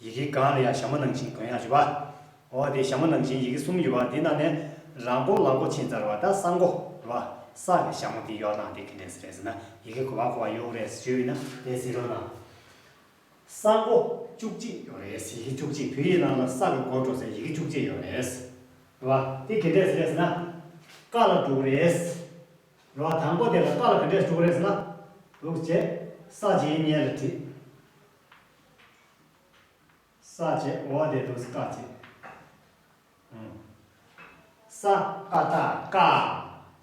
ཡི་གེ་གང་ལ་ཡང་ཞྭ་མོ་ནང་བཞིན་དོན་ཡང་རི་བ། འོ་དེ་ཞྭ་མོ་ནང་བཞིན་ཡི་གེ་གསུམ་ཡོད་པ་འདི་ནང་ནས་རང་པོ་ལག་པོ་ཆེན་ཙར་བ་དང་སང་གོ་བ་ས་གི་ཞྭ་མོ་འདི་གཡོག་ནང་འདི་གི་ནས་ཟེར་ཟེར་ན་ཡི་གེ་གོ་བ་གོ་བ་ཡོག་རེད་ཟེར་ཞུས་ན་དེ་ཟེར་རོ་ནང་སང་གོ་བཅུ་གཅིག་ཡོག་རེད་ཡི་གེ་བཅུ་གཅིག་བོད་ཡིག་ནང་ལ་ས་གི་གོ་འགྲོ་ཟེར་ཡི་གེ་བཅུ་གཅིག་ཡོག་རེད་ཟེར་བ་འདི་གི་འདྲས་རེད་ཟེར་ན་ཀ་ལ་དྲུག་རེད་ཟེར་བ་དང་པོ་དེ་ལ་ཀ་ལ་གི་འདྲས་དྲུག་རེད་ཟེར་ན་དྲུག་བྱས་ས་བྱས་ཉེས་ལ་བྲིས། ས་བཅད་འོག་འགྲེལ་དུ་སྐ་བཅད། ས་ཀ་ད་ཀ།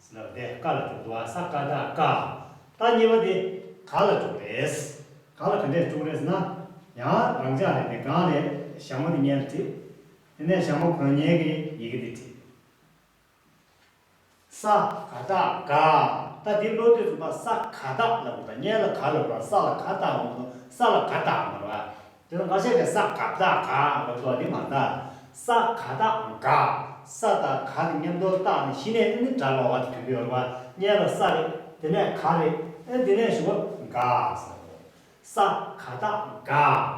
ཟེར་བ་འདི་ཀ་ལ་དྲུག་འགྲོ་བ་ས་ཀ་ད་ཀ། ད་གཉིས་པ་འདི་ག་ལ་དྲུག་རེད། ག་ལ་ག་འདྲས་དྲུག་རེད་ཟེར་ན། ཡང་རང་ཅག་རེ་འདི་གང་རེད་ཞྭ་མོ་འདི་གཉེན་དུ་བྲིས། དེ་ནས་ཞྭ་མོ་གོན་ཉེན་གྱི་ཡི་གེ་འདི་བྲིས། ས་ག་རྟགས་ག། ད་འདི་ཀློག་དུས་སུ་པ་ས་ག་རྟགས་ལབ་དགོས་པ་བརྙན་ལ་ག་ལབ་རོགས་ས་ལ་ག་རྟགས་ལབ་དགོས་ས་ལ་ག་རྟགས་མ་རེད་པ། དེ་ནང་བཤད་པའི་ས་ག་རྟགས་ག་ལབ་དགོས་པ་འདི་མ་རེད་ད། ས་ག་རྟགས་ག། ས་དང་ག་ནི་མཉམ་དོར་རྟགས་ནི་ཤི་ནས་ཨེ་འདི་འདྲ་ལོག་བ་དེ་དྲུག་པོ་ཡོད་རེད་པ་བརྙན་ལ་ས་རེད་དེ་ནས་ག་རེད་ཨེ་འདི་ནས་ཞུ་བ་ག། ས་ག་རྟགས་ག།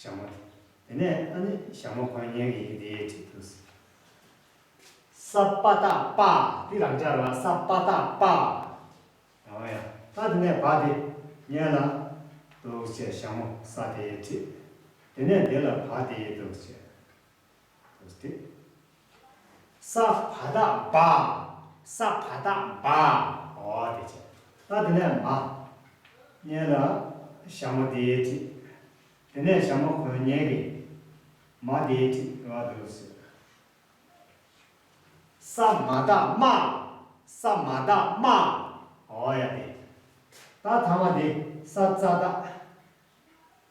ཞྭ་མོ། དེ་ནས་ཨ་ནི་ཞྭ་མོ་གོན་ཉན་གི་ཡིན་ཏེ་དྲིས་དུས། ས་པ་ཏག་པ། དེ་རང་ཅག་ལ་ས་པ་ཏག་པ། ཨ་ཨོ་ཡ། ད་དེ་ནས་བ་དེ་ཉན་ལ། འདུག་བྱས་ཞྭ་མོ་ས་དེ་དྲིས། དེ་ནས་དེ་ལ་བ་དེ་འདུག་བྱས། ས་བ་ད་བ། ས་བ་ད་བ། ཨོ་དེ་བྱས། ད་དེ་ནས་མ། གཉན་ལ། ཞྭ་མོ་དེའི་ཁྲི། དེ་ནས་ཞྭ་མོ་གོན་གཉན་གྱི། མ་དེའི་ཁྲི་རེ་བ་འདུག་ཟེར། ས་མ་ད་མ། ས་མ་ད་མ། ཨོ་ཡ་དེ། ད་ཐ་མ་དེ་ས་ཙ་ད།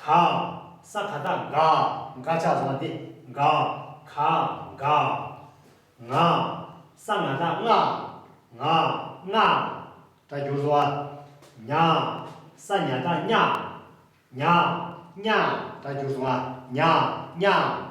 གང། ས་ག་ད་ག། འགག་ཆགས་བཟང་སྟེ་འགག། ག། འགག། ང། ས་ང་ད་ང། ང། ན། སྒྲ་སྒྱུར་བཟོ་བ། ཉག། ས་ཉག་ད་ཉག། ཉག། ཉག། སྒྲ་སྒྱུར་བཟོ་བ། ཉག། ཉག།